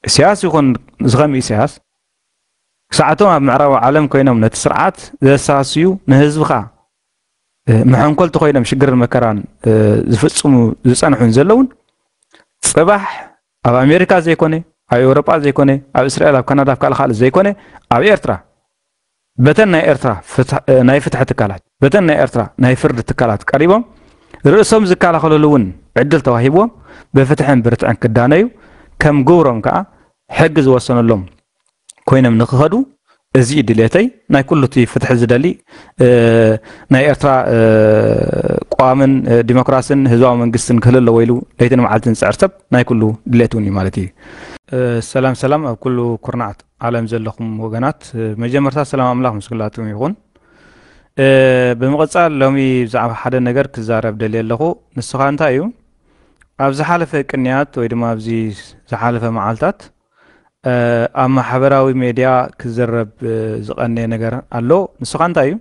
ኢሳያስ ይኹን ዝኸም ኢሳያስ ክሳዕቶም ኣብ ምዕራባዊ ዓለም ኮይኖም ነቲ ስርዓት ዘሳስዩ ንህዝብኻ መሐንኮልቲ ኮይኖም ሽግርን መከራን ዝፍጽሙ ዝጸንሑን ዘለውን ጽባሕ ኣብ ኣሜሪካ ዘይኮነ ኣብ ኤውሮጳ ዘይኮነ ኣብ እስራኤል ኣብ ካናዳ ኣብ ካልእ ካልእ ዘይኮነ ኣብ ኤርትራ በተን ናይ ኤርትራ ናይ ፍትሒ ትካላት፣ በተን ናይ ኤርትራ ናይ ፍርዲ ትካላት ቀሪቦም ርእሶም ዝከላኸለሉ እውን ዕድል ተዋሂብዎም ብፍትሕን ብርትዕን ክዳነዩ ከም ግብሮም ከኣ ሕጊ ዝወሰነሎም ኮይኖም ንክኸዱ እዚ እዩ ድሌተይ ናይ ኩሉ እቲ ፍትሒ ዝደሊ ናይ ኤርትራ ቋምን ዲሞክራስን ህዝባዊ መንግስትን ክህል ኣለዎ ኢሉ ለይትን መዓልትን ዝጽዕር ሰብ ናይ ኩሉ ድሌት እውን እዩ ማለት እዩ ሰላም ሰላም ኣብ ኩሉ ኩርናዓት ዓለም ዘለኹም ወገናት መጀመርታ ሰላም ኣምላኽ ምስ ኩላትኩም ይኹን። ብምቕጻል ሎሚ ብዛዕባ ሓደ ነገር ክዛረብ ደልየ ኣለኹ ንስኻ እንታይ እዩ ኣብ ዝሓለፈ ቅንያት ወይ ድማ ኣብዚ ዝሓለፈ መዓልታት ኣብ ማሕበራዊ ሜድያ ክዝረብ ዝቐነየ ነገር ኣሎ ንስኻ እንታይ እዩ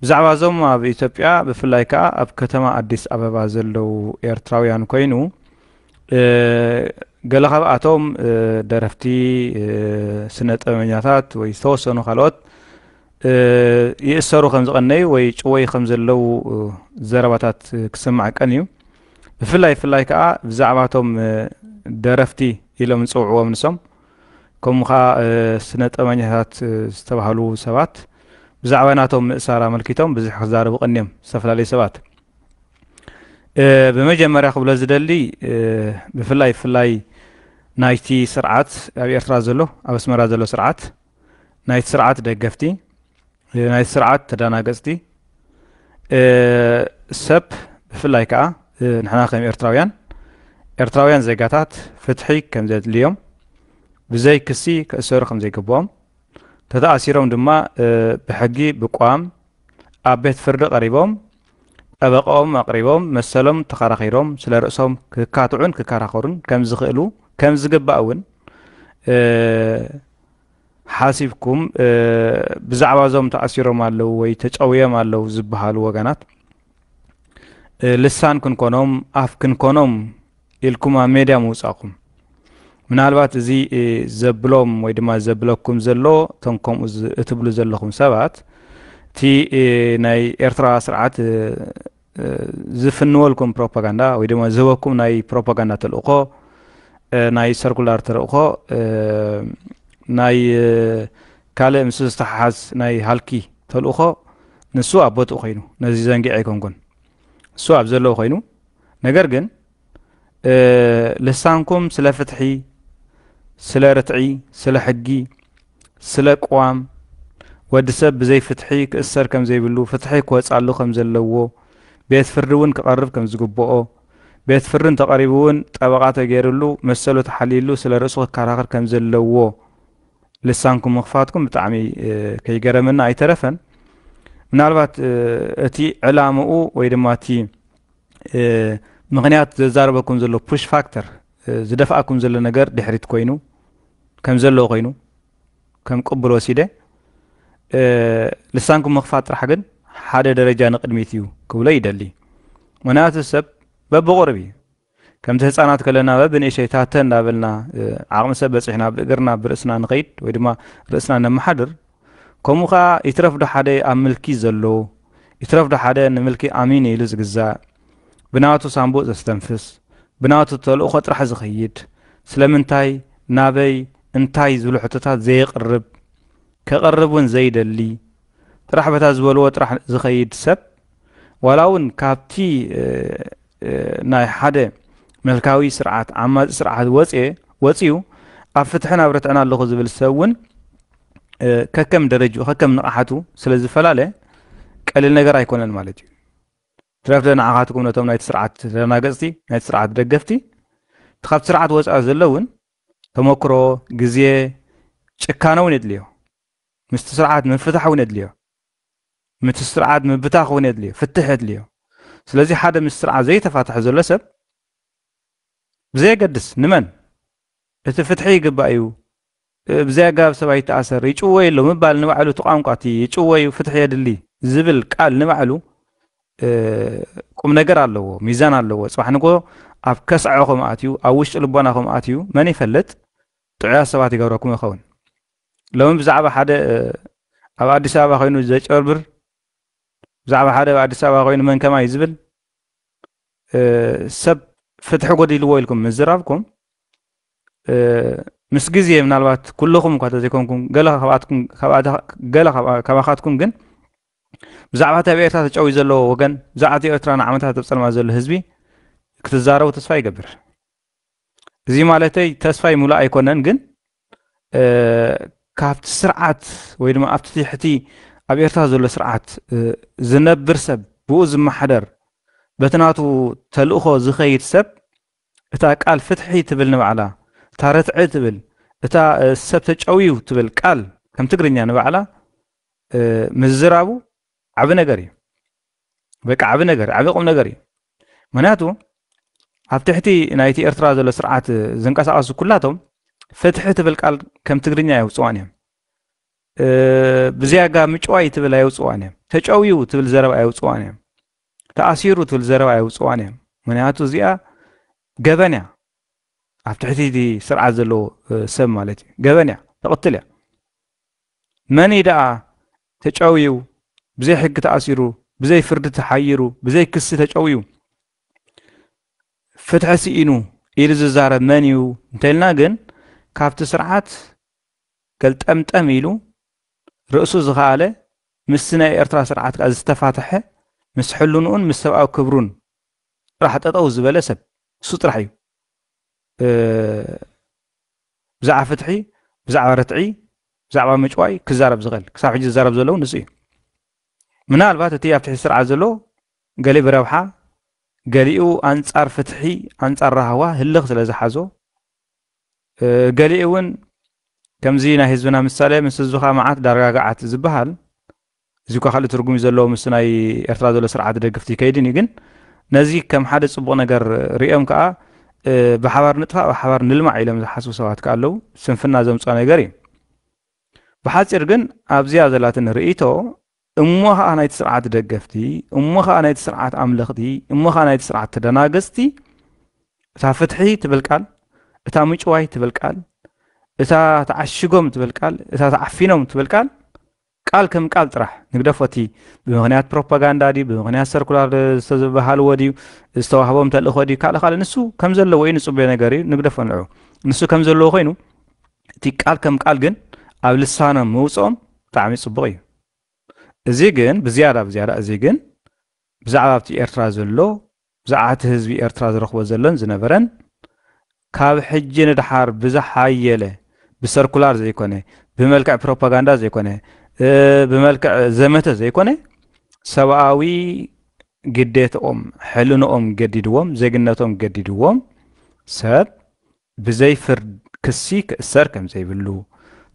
ብዛዕባ እዞም ኣብ ኢትዮጵያ ብፍላይ ከዓ ኣብ ከተማ ኣዲስ ኣበባ ዘለው ኤርትራውያን ኮይኑ ገለ ካብኣቶም ደረፍቲ ስነ ጥበበኛታት ወይ ዝተወሰኑ ካልኦት ይእሰሩ ከም ዝቐነዩ ወይ ጭወይ ከም ዘለው ዘረባታት ክስማዕ ቀን እዩ ብፍላይ ብፍላይ ከዓ ብዛዕባቶም ደረፍቲ ኢሎም ዝፅውዕዎም ንሶም ከምኡ ከዓ ስነ ጥበበኛታት ዝተባሃሉ ሰባት ብዛዕባ ናቶም ምእሳር ኣመልኪቶም ብዙሕ ክዛረቡ ቀኒዮም ዝተፈላለዩ ሰባት ብመጀመርያ ክብሎ ዝደሊ ብፍላይ ብፍላይ ናይቲ ስርዓት ኣብ ኤርትራ ዘሎ ኣብ ኣስመራ ዘሎ ስርዓት ናይቲ ስርዓት ደገፍቲ ናይቲ ስርዓት ተደናገፅቲ ሰብ ብፍላይ ከዓ ንሕና ከም ኤርትራውያን ኤርትራውያን ዜጋታት ፍትሒ ከም ዘድልዮም ብዘይ ክሲ ክእሰሩ ከም ዘይግብኦም ተተኣሲሮም ድማ ብሕጊ ብቋም ኣብ ቤት ፍርዲ ቀሪቦም ጠበቐኦም ኣቕሪቦም መሰሎም ተኸራኺሮም ስለ ርእሶም ክካትዑን ክከራኸሩን ከም ዝኽእሉ ከም ዝግባእ እውን ሓሲብኩም ብዛዕባ እዞም ተኣሲሮም ኣለዉ ወይ ተጨውዮም ኣለዉ ዝበሃሉ ወገናት ልሳን ክንኮኖም ኣፍ ክንኮኖም ኢልኩም ኣብ ሜድያ ምውጻእኩም ምናልባት እዚ ዘብሎም ወይ ድማ ዘብለኩም ዘሎ እቶም ከምኡ እትብሉ ዘለኹም ሰባት እቲ ናይ ኤርትራ ስርዓት ዝፍንወልኩም ፕሮፓጋንዳ ወይ ድማ ዝህበኩም ናይ ፕሮፓጋንዳ ተልእኮ ናይ ሰርኩላር ተልእኮ ናይ ካልእ ምስ ዝተሓሓዝ ናይ ሃልኪ ተልእኮ ንሱ ኣብ ቦትኡ ኮይኑ ነዚ ዘንጊዐ ኣይኮንኩን እሱ ኣብ ዘለዎ ኮይኑ ነገር ግን ልሳንኩም ስለ ፍትሒ ስለ ርትዒ ስለ ሕጊ ስለ ቅዋም ወዲ ሰብ ብዘይ ፍትሒ ክእሰር ከም ዘይብሉ ፍትሒ ክወፃሉ ከም ዘለዎ ቤት ፍርዲ እውን ክቐርብ ከም ዝግብኦ ቤት ፍርዲ እንተቐሪቡ እውን ጠበቓ ተገይርሉ መሰሉ ተሓልይሉ ስለ ርእሱ ክከራኸር ከም ዘለዎ ልሳንኩም ምኽፋትኩም ብጣዕሚ ከይገረመና ኣይተረፈን ምናልባት እቲ ዕላምኡ ወይ ድማ እቲ ምክንያት ዘዛረበኩም ዘሎ ፑሽ ፋክተር ዝደፍኣኩም ዘሎ ነገር ድሕሪት ኮይኑ ከም ዘለዎ ኮይኑ ከም ቅቡል ወሲደ ልሳንኩም ምኽፋት ጥራሕ ግን ሓደ ደረጃ ንቅድሚት እዩ ክብሎ ይደሊ ምክንያቱ ሰብ በብቑርብ እዩ ከምቲ ህጻናት ከለና በብንእሸይ ታተ እንዳበልና ዓቕሚ ሰብ በጺሕና ብእግርና ብርእስና ንኸይድ ወይ ድማ ርእስና ነመሓድር ከምኡ ከኣ ይትረፍ ዶ ሓደ ኣብ ምልኪ ዘሎ ይትረፍ ዶ ሓደ ንምልኪ ኣሚን ኢሉ ዝግዛእ ብናቱ ሳንቡእ ዘስተንፍስ ብናቱ ተልእኾ ጥራሕ ዝኸይድ ስለምንታይ ናበይ እንታይ ዝብሉ ሕቶታት ዘየቕርብ ከቐርብ እውን ዘይደሊ ጥራሕ በታ ዝበልዎ ጥራሕ ዝኸይድ ሰብ ዋላ እውን ካብቲ ናይ ሓደ መልካዊ ስርዓት ዓማፂ ስርዓት ወፅ ወፅዩ ኣብ ፍትሕን ኣብ ርትዕን ኣለኹ ዝብል ሰብ እውን ከከም ደረጅኡ ከከም ንቕሓቱ ስለ ዝፈላለ ቀሊል ነገር ኣይኮነን ማለት እዩ ትረፍደ ንዓኻትኩም ነቶም ናይቲ ስርዓት ተደናገፅቲ ናይቲ ስርዓት ደገፍቲ እቲ ካብቲ ስርዓት ወፃኢ ዘሎ እውን ተመክሮ ግዜ ጭካነ እውን የድልዮ ምስቲ ስርዓት ምፍታሕ እውን የድልዮ ምት ስርዓት ምብታኽ እውን የድልዮ ፍትሕ የድልዮ ስለዚ ሓደ ምስ ስርዓት ዘይተፋትሐ ዘሎ ሰብ ብዘየገድስ ንመን እቲ ፍትሒ ይግባእ እዩ ብዘይ ኣገባብ ሰብ ኣይተኣሰር ይጭወይ ኣሎ ምባል ንባዕሉ እቲ ቋንቋ እቲ ይጭወዩ ፍትሒ የድሊ ዝብል ቃል ንባዕሉ ቁም ነገር ኣለዎ ሚዛን ኣለዎ ፅባሕ ንጎ ኣብ ከስዐ ከም ኣትዩ ኣብ ውሽጢ ልቦና ከም ኣትዩ መን ይፈልጥ ጥዑያት ሰባት ይገብረኩም ይኸውን ሎሚ ብዛዕባ ሓደ ኣብ ኣዲስ ኣበባ ኮይኑ ዘጭበርብር ብዛዕባ ሓደ ኣብ ኣዲስ ኣበባ ኮይኑ መን ከማይ ዝብል ሰብ ፍትሒ ጎዲልዎ ኢልኩም ምዝራብኩም ምስ ግዜ ምናልባት ኩልኹም እኳ ተዘይኮንኩም ገለ ካባኻትኩም ግን ብዛዕባ እቲ ኣብ ኤርትራ ተጨውዩ ዘለዎ ወገን ብዛዕባ እቲ ኤርትራ ንዓመታት ኣብ ፀልማ ዘሎ ህዝቢ ክትዛረቡ ተስፋ ይገብር እዚ ማለተይ ተስፋ ይሙላ ኣይኮነን ግን ካብቲ ስርዓት ወይ ድማ ኣብቲ ትሕቲ ኣብ ኤርትራ ዘሎ ስርዓት ዝነብር ሰብ ብኡ ዝመሓደር በቲ ናቱ ተልእኾ ዝኸይድ ሰብ እታ ቃል ፍትሒ ትብል ንባዕላ እታ ርትዒ ትብል እታ ሰብ ተጨውዩ ትብል ቃል ከም ትግርኛ ንባዕላ ምዝራቡ ዓቢ ነገር እዩ በቃ ዓቢ ነገር ዓቢ ቁም ነገር እዩ ምክንያቱ ኣብ ትሕቲ ናይቲ ኤርትራ ዘሎ ስርዓት ዝንቀሳቐሱ ኩላቶም ፍትሒ ትብል ቃል ከም ትግርኛ የውፅዋን እዮም ብዝያጋ ምጭዋይ ትብል ኣየውፅዋን እዮም ተጨውዩ ትብል ዘረባ ኣየውፅዋን እዮም ተኣሲሩ ትብል ዘረባ ኣየውፅዋን እዮም ምክንያቱ እዚኣ ገበን እያ ኣብ ትሕቲ እቲ ስርዓት ዘለዎ ሰብ ማለት እዩ ገበን እያ ተቕትል እያ መን ደኣ ተጨውዩ፣ ብዘይ ሕጊ ተኣሲሩ፣ ብዘይ ፍርዲ ተሓይሩ፣ ብዘይ ክሲ ተጨውዩ፣ ፍትሒ ስኢኑ ኢሉ ዝዛረብ መን እዩ እንተልና ግን ካብቲ ስርዓት ገልጠምጠም ኢሉ ርእሱ ዝኸኣለ ምስቲ ናይ ኤርትራ ስርዓት ከኣ ዝተፋትሐ ምስ ሕልንኡን ምስ ሰብኣዊ ክብሩን ጥራሕ ጠጠው ዝበለ ሰብ እሱ ጥራሕ እዩ ብዛዕባ ፍትሒ፣ ብዛዕባ ርትዒ፣ ብዛዕባ ምጭዋይ ክዛረብ ዝኽእል ክሳብ ሕጂ ዝዛረብ ዘሎ እውን ንሱ እዩ። ምናልባት እቲ ኣብ ትሕቲ ስርዓት ዘሎ ገሊኡ ብረብሓ ገሊኡ ኣንጻር ፍትሒ ኣንጻር ራህዋ ህልኽ ስለ ዝሓዞ ገሊኡ እውን ከምዚ ናይ ህዝብና ምሳሌ ምስ ህዝብኻ መዓት ዳርጋ ገዓት ዝበሃል እዚ እኳ ካልእ ትርጉም እዩ ዘለዎ ምስ ናይ ኤርትራ ዘሎ ስርዓት ደግፍቲ ይከይድን እዩ ግን ነዚ ከም ሓደ ጽቡቕ ነገር ርእዮም ከኣ ብሓባር ንጥፋእ ብሓባር ንልማዕ ኢሎም ዝሓስቡ ሰባት ከኣ ኣለዉ ስንፍና ዘምጽኦ ነገር እዩ ብሓጺር ግን ኣብዚኣ ዘላትን ርእይቶ እሞ ከኣ ናይቲ ስርዓት ደገፍቲ እሞ ከኣ ናይቲ ስርዓት ኣምለኽቲ እሞ ከኣ ናይቲ ስርዓት ተደናገጽቲ እታ ፍትሒ ትብል ቃል እታ ምጭዋይ ትብል ቃል እታ ተዓሽጎም ትብል ቃል እታ ተዓፊኖም ትብል ቃል ቃል ከም ቃል ጥራሕ ንግደፎ እቲ ብምኽንያት ፕሮፓጋንዳ ድዩ ብምኽንያት ሰርኩላር ዝተዝበሃልዎ ድዩ ዝተዋህቦም ተልእኾ ድዩ ካልእ ካልእ ንሱ ከም ዘለዎ እዩ ንጽበዮ ነገር እዩ ንግደፎ ንዑ ንሱ ከም ዘለዎ ኮይኑ እቲ ቃል ከም ቃል ግን ኣብ ልሳኖም ምውጽኦም ብጣዕሚ ጽቡቕ እዩ እዚ ግን ብዝያዳ ብዝያዳ እዚ ግን ብዛዕባ ኣብቲ ኤርትራ ዘሎ ብዛዕባ እቲ ህዝቢ ኤርትራ ዝረኽቦ ዘሎን ዝነበረን ካብ ሕጂ ንደሓር ብዝሓየለ ብሰርኩላር ዘይኮነ፣ ብመልክዕ ፕሮፓጋንዳ ዘይኮነ፣ ብመልክዕ ዘመተ ዘይኮነ ሰብኣዊ ግዴትኦም ሕልንኦም ገዲድዎም ዜግነቶም ገዲድዎም ሰብ ብዘይ ፍርድ ክሲ ክእሰር ከምዘይብሉ፣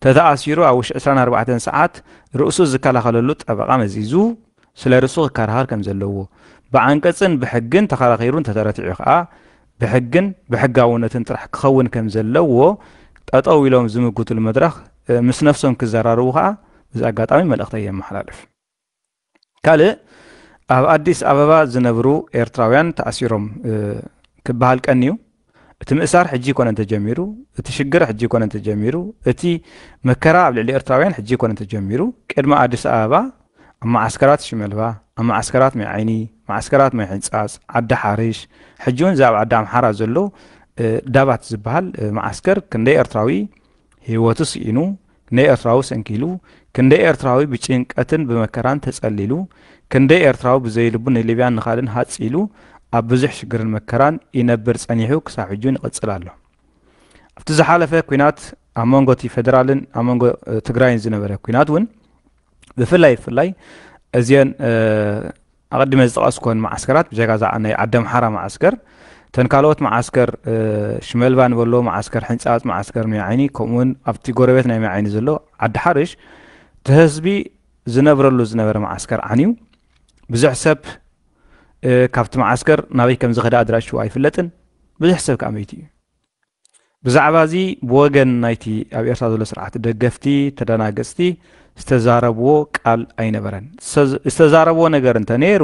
ተተኣሲሩ ኣብ ውሽጢ ዕስራን ኣርባዕተን ሰዓት ርእሱ ዝከላኸለሉ ጠበቓ መዚዙ ስለ ርእሱ ክከራኸር ከምዘለዎ፣ ብዓንቀጽን ብሕግን ተኸራኺሩ እንተተረቲዑ ከኣ ብሕግን ብሕጋውነትን ጥራሕ ክኸውን ከምዘለዎ ጠጠው ኢሎም ዝምጉትሉ መድረኽ ምስ ነፍሶም ክዘራርቡ ከኣ በዚ ኣጋጣሚ መልእኽተይ የመሓላልፍ። ካልእ ኣብ ኣዲስ ኣበባ ዝነብሩ ኤርትራውያን ተኣሲሮም ክበሃል ቀንዩ። እቲ ምእሳር ሕጂ ይኮነ እንተጀሚሩ፣ እቲ ሽግር ሕጂ ይኮነ እንተጀሚሩ፣ እቲ መከራ ኣብ ልዕሊ ኤርትራውያን ሕጂ ይኮነ እንተጀሚሩ፣ ቅድሚ ኣዲስ ኣበባ ኣብ መዓስከራት ሽመልባ፣ ኣብ መዓስከራት ማይ ዓይኒ፣ መዓስከራት ማይ ሕንጻጽ፣ ዓዲ ሓርሽ፣ ሕጂውን እዚ ኣብ ዓዲ ኣምሓራ ዘሎ ዳባት ዝበሃል መዓስከር ክንደይ ኤርትራዊ ሂወቱ ስኢኑ ንኤርትራዊ ሰንኪሉ፣ ክንደይ ኤርትራዊ ብጭንቀትን ብመከራን ተጸሊሉ፣ ክንደይ ኤርትራዊ ብዘይልቡ ንሊብያን ንካልን ሃጽ ኢሉ ኣብ ብዙሕ ሽግርን መከራን ይነብር ጸኒሑ ክሳብ ሕጂ ውን ይቕጽል ኣሎ። ኣብቲ ዝሓለፈ ኲናት ኣብ መንጎቲ ፈደራልን ኣብ መንጎ ትግራይን ዝነበረ ኲናት ውን ብፍላይ ብፍላይ እዚኤን ኣቐዲመ ዝጠቐስኩወን መዓስከራት ብጀካ እዛ ናይ ዓደምሓራ መዓስከር እተን ካልኦት መዓስከር ሽመልባ ንበሎ፣ መዓስከር ሕንጻጽ፣ መዓስከር ሚያዓይኒ ከምኡውን ኣብቲ ጎረቤት ናይ ሚያዓይኒ ዘሎ ዓዲሓርሽ እቲ ህዝቢ ዝነብረሉ ዝነበረ መዓስከር ዓንዩ ብዙሕ ሰብ ካብቲ መዓስከር ናበይ ከም ዝኸደ ኣድራሽኡ ኣይፍለጥን ብዙሕ ሰብ ከዓ መይቱ እዩ። ብዛዕባዚ ብወገን ናይቲ ኣብ ኤርትራ ዘሎ ስርዓት ደገፍቲ ተደናገጽቲ ዝተዛረብዎ ቃል ኣይነበረን። ዝተዛረብዎ ነገር እንተ ነይሩ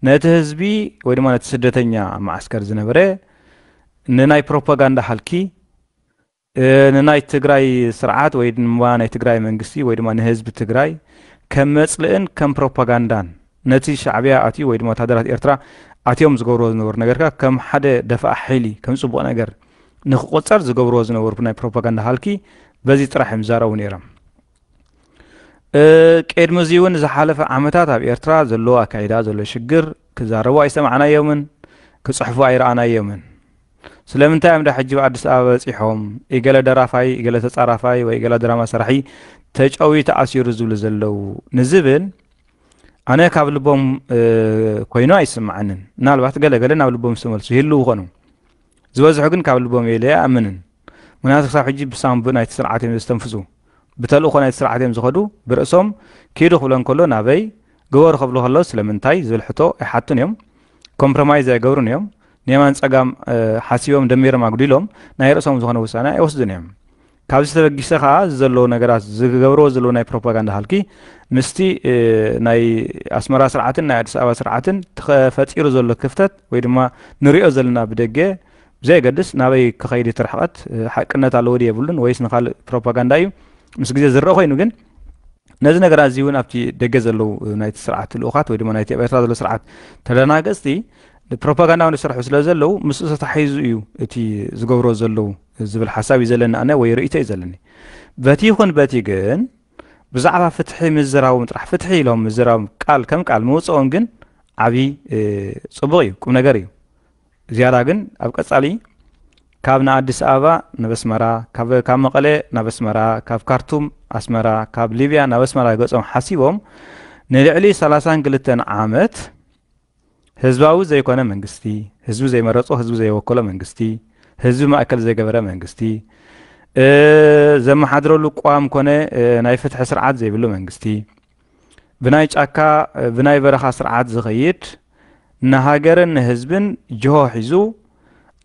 ነቲ ህዝቢ ወይ ድማ ነቲ ስደተኛ ኣብ መዓስከር ዝነበረ ንናይ ፕሮፓጋንዳ ሃልኪ ንናይ ትግራይ ስርዓት ወይ ድማ ናይ ትግራይ መንግስቲ ወይ ድማ ንህዝቢ ትግራይ ከም መጽልእን ከም ፕሮፓጋንዳን ነቲ ሻዕብያ ኣትዩ ወይ ድማ ወተሃደራት ኤርትራ ኣትዮም ዝገብርዎ ዝነበሩ ነገርካ ከም ሓደ ደፋእ ሓይሊ ከም ጽቡቕ ነገር ንክቆጸር ዝገብርዎ ዝነበሩ ናይ ፕሮፓጋንዳ ሃልኪ በዚ ጥራሕ እዮም ዝዛረቡ ነይሮም። ቅድሚ እዚ እውን ዝሓለፈ ዓመታት ኣብ ኤርትራ ዘሎ ኣካይዳ ዘሎ ሽግር ክዛረቡ ኣይሰማዕናዮምን ክጽሕፉ ኣይረኣናዮምን። ስለምንታይ እዮም ዳ ሕጂ ብኣዲስ ኣበባ በጺሖም ኢገለ ደራፋይ ኢገለ ተጻራፋይ ወይ ኢገለ ድራማ ሰራሒ ተጨውዩ ተኣሲሩ ዝብሉ ዘለዉ ንዝብል ኣነ ካብ ልቦም ኮይኑ ኣይስምዓንን ምናልባት ገለገለ ናብ ልቦም ዝተመልሱ ይህሉ ይኾኑ ዝበዝሑ ግን ካብ ልቦም የለ ኣምንን ምክንያቱ ክሳብ ሕጂ ብሳንቡ ናይቲ ስርዓት እዮም ዘስተንፍሱ ብተልእኮ ናይቲ ስርዓት እዮም ዝኸዱ ብርእሶም ኪዱ ክብሎ ከሎ ናበይ ግበሩ ከብሉ ከሎ ስለምንታይ ዝብል ሕቶ ኣይሓቱን እዮም ኮምፕሮማይዝ ኣይገብሩን እዮም ንየማን ፀጋም ሓሲቦም ደሚሮም ኣጉዲሎም ናይ ርእሶም ዝኾነ ውሳነ ኣይወስዱን እዮም ካብዚ ተበጊሰ ከኣ እዚ ዘለዉ ነገራት ዝገብርዎ ዘለዉ ናይ ፕሮፓጋንዳ ሃልኪ ምስቲ ናይ ኣስመራ ስርዓትን ናይ ኣዲስ ኣበባ ስርዓትን ተፈጢሩ ዘሎ ክፍተት ወይ ድማ ንሪኦ ዘለና ብደገ ብዘየገድስ ናበይ ክኸይድ እቲ ርሕቐት ሓቅነት ኣለዎ ድዩ የብሉን ወይስ ንካልእ ፕሮፓጋንዳ እዩ ምስ ግዜ ዝረአ ኮይኑ ግን ነዚ ነገራት እዚ እውን ኣብቲ ደገ ዘለዉ ናይቲ ስርዓት ልኡኻት ወይ ድማ ናይቲ ኣብ ኤርትራ ዘሎ ስርዓት ተደናገፅቲ ፕሮፓጋንዳውን ዝሰርሑ ስለ ዘለዉ ምስኡ ተታሒዙ እዩ እቲ ዝገብሮ ዘለዉ ዝብል ሓሳብ እዩ ዘለኒ ኣነ ወይ ርእይቶ እዩ ዘለኒ በቲ ይኹን በቲ ግን ብዛዕባ ፍትሒ ምዝራቦም ጥራሕ ፍትሒ ኢሎም ምዝራቦም ቃል ከም ቃል ምውፅኦም ግን ዓብዪ ፅቡቕ እዩ ቁም ነገር እዩ ዝያዳ ግን ኣብ ቀፃሊ ካብ ንኣዲስ ኣበባ ናብ ኣስመራ ካብ መቐለ ናብ ኣስመራ ካብ ካርቱም ኣስመራ ካብ ሊብያ ናብ ኣስመራ ገፆም ሓሲቦም ንልዕሊ 32 ዓመት ህዝባዊ ዘይኮነ መንግስቲ፣ ህዝቢ ዘይመረጾ ህዝቢ ዘይወከሎ መንግስቲ፣ ህዝቢ ማእከል ዘይገበረ መንግስቲ፣ ዘመሓድረሉ ቅዋም ኮነ ናይ ፍትሒ ስርዓት ዘይብሉ መንግስቲ፣ ብናይ ጫካ ብናይ በረኻ ስርዓት ዝኸይድ ንሃገርን ንህዝብን ጅሆ ሒዙ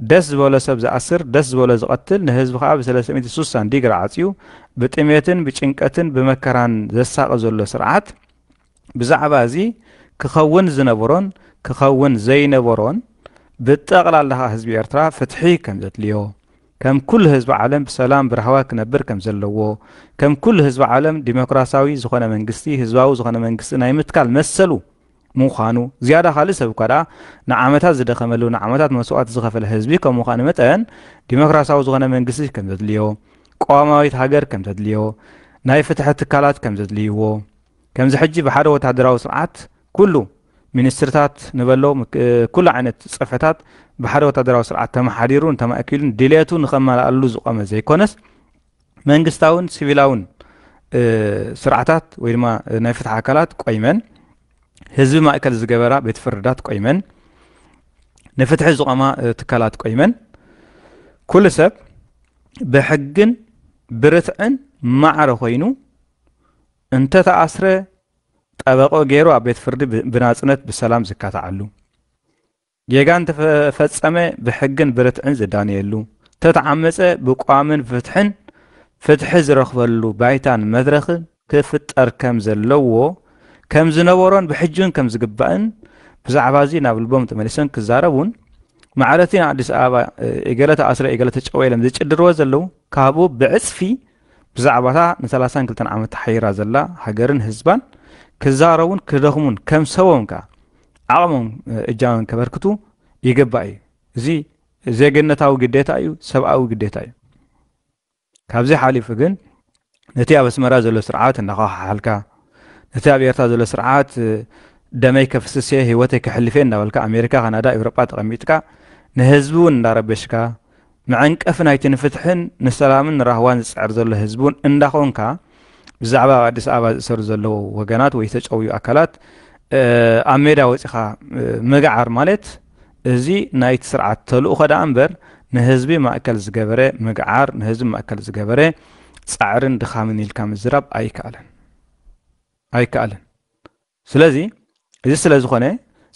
ደስ ዝበሎ ሰብ ዝኣስር ደስ ዝበሎ ዝቐትል ንህዝቢ ከዓ ብ360 ዲግሪ ዓፅዩ ብጥሜትን ብጭንቀትን ብመከራን ዘሳቒ ዘሎ ስርዓት ብዛዕባ እዚ ክኸውን ዝነበሮን ክኸውን ዘይነበሮን ብጠቕላላ ከኣ ህዝቢ ኤርትራ ፍትሒ ከም ዘድልዮ ከም ኩሉ ህዝቢ ዓለም ብሰላም ብራህዋ ክነብር ከም ዘለዎ ከም ኩሉ ህዝቢ ዓለም ዲሞክራሲያዊ ዝኾነ መንግስቲ ህዝባዊ ዝኾነ መንግስቲ ናይ ምትካል መሰሉ ምዃኑ ዝያዳ ካልእ ሰብ እኳ ደኣ ንዓመታት ዝደኸመሉ ንዓመታት መስዋእቲ ዝኸፈለ ህዝቢ ከም ምዃኑ መጠን ዲሞክራሲያዊ ዝኾነ መንግስቲ ከም ዘድልዮ ቀዋማዊት ሃገር ከም ዘድልዮ ናይ ፍትሒ ትካላት ከም ዘድልይዎ ከምዚ ሕጂ ብሓደ ወተሃደራዊ ስርዓት ኩሉ ሚኒስትርታት ንበሎ ኩሉ ዓይነት ጽፍሕታት ብሓደ ወተሃደራዊ ስርዓት ተመሓዲሩን ተማእኪሉን ድልየቱ ንኸመላኣሉ ዝቆመ ዘይኮነስ መንግስታውን ሲቪላውን ስርዓታት ወይ ድማ ናይ ፍትሒ ኣካላት ቆይመን ህዝቢ ማእከል ዝገበራ ቤት ፍርዳት ቆይመን ንፍትሒ ዝቆማ ትካላት ቆይመን ኩሉ ሰብ ብሕግን ብርትዕን ማዕረ ኮይኑ እንተተኣስረ ጠበቐኡ ገይሩ ኣብ ቤት ፍርዲ ብናፅነት ብሰላም ዝካታዓሉ፣ ጌጋ እንተፈፀመ ብሕግን ብርትዕን ዝዳነየሉ፣ እንተተዓመፀ ብቋምን ፍትሕን ፍትሒ ዝረኽበሉ ባይታን መድረኽን ክፍጠር ከም ዘለዎ፣ ከም ዝነበሮን ብሕጂውን ከም ዝግባእን ብዛዕባ እዚ ናብ ልቦም ተመሊሶም ክዛረቡን ማዕረቲ ንኣዲስ ኣበባ እገለ ተኣስረ እገለ ተጨወ ኢሎም ዝጭድርዎ ዘለዉ ካብኡ ብዕፅፊ ብዛዕባ እታ ንሰላሳን ክልተን ዓመት ተሓይራ ዘላ ሃገርን ህዝባን ክዛረቡን ክደኽሙን ከም ሰቦም ከኣ ዓቕሞም እጃሞም ከበርክቱ ይግባእ እዩ እዚ ዜግነታዊ ግዴታ እዩ ሰብኣዊ ግዴታ እዩ ካብዚ ሓሊፉ ግን ነቲ ኣብ ኣስመራ ዘሎ ስርዓት እናኸሓልካ ነቲ ኣብ ኤርትራ ዘሎ ስርዓት ደመይ ከፍስስ እየ ህይወተይ ከሕልፍ እየ እናበልካ ኣሜሪካ ካናዳ ኤውሮጳ ተቐሚጥካ ንህዝቢ እውን እንዳረበሽካ መዐንቀፊ ናይቲ ንፍትሕን ንሰላምን ንራህዋን ዝጽዕር ዘሎ ህዝቢውን እንዳኾንካ ብዛዕባ ኣብ ኣዲስ ኣበባ ዝእሰሩ ዘለዉ ወገናት ወይ ዝተጨውዩ ኣካላት ኣብ ሜዳ ወጺኻ ምግዓር ማለት እዚ ናይቲ ስርዓት ተልእኾ ደኣ እምበር ንህዝቢ ማእከል ዝገበረ ምግዓር ንህዝቢ ማእከል ዝገበረ ጻዕርን ድኻምን ኢልካ ምዝራብ ኣይከኣልን ኣይከኣልን። ስለዚ እዚ ስለ ዝኾነ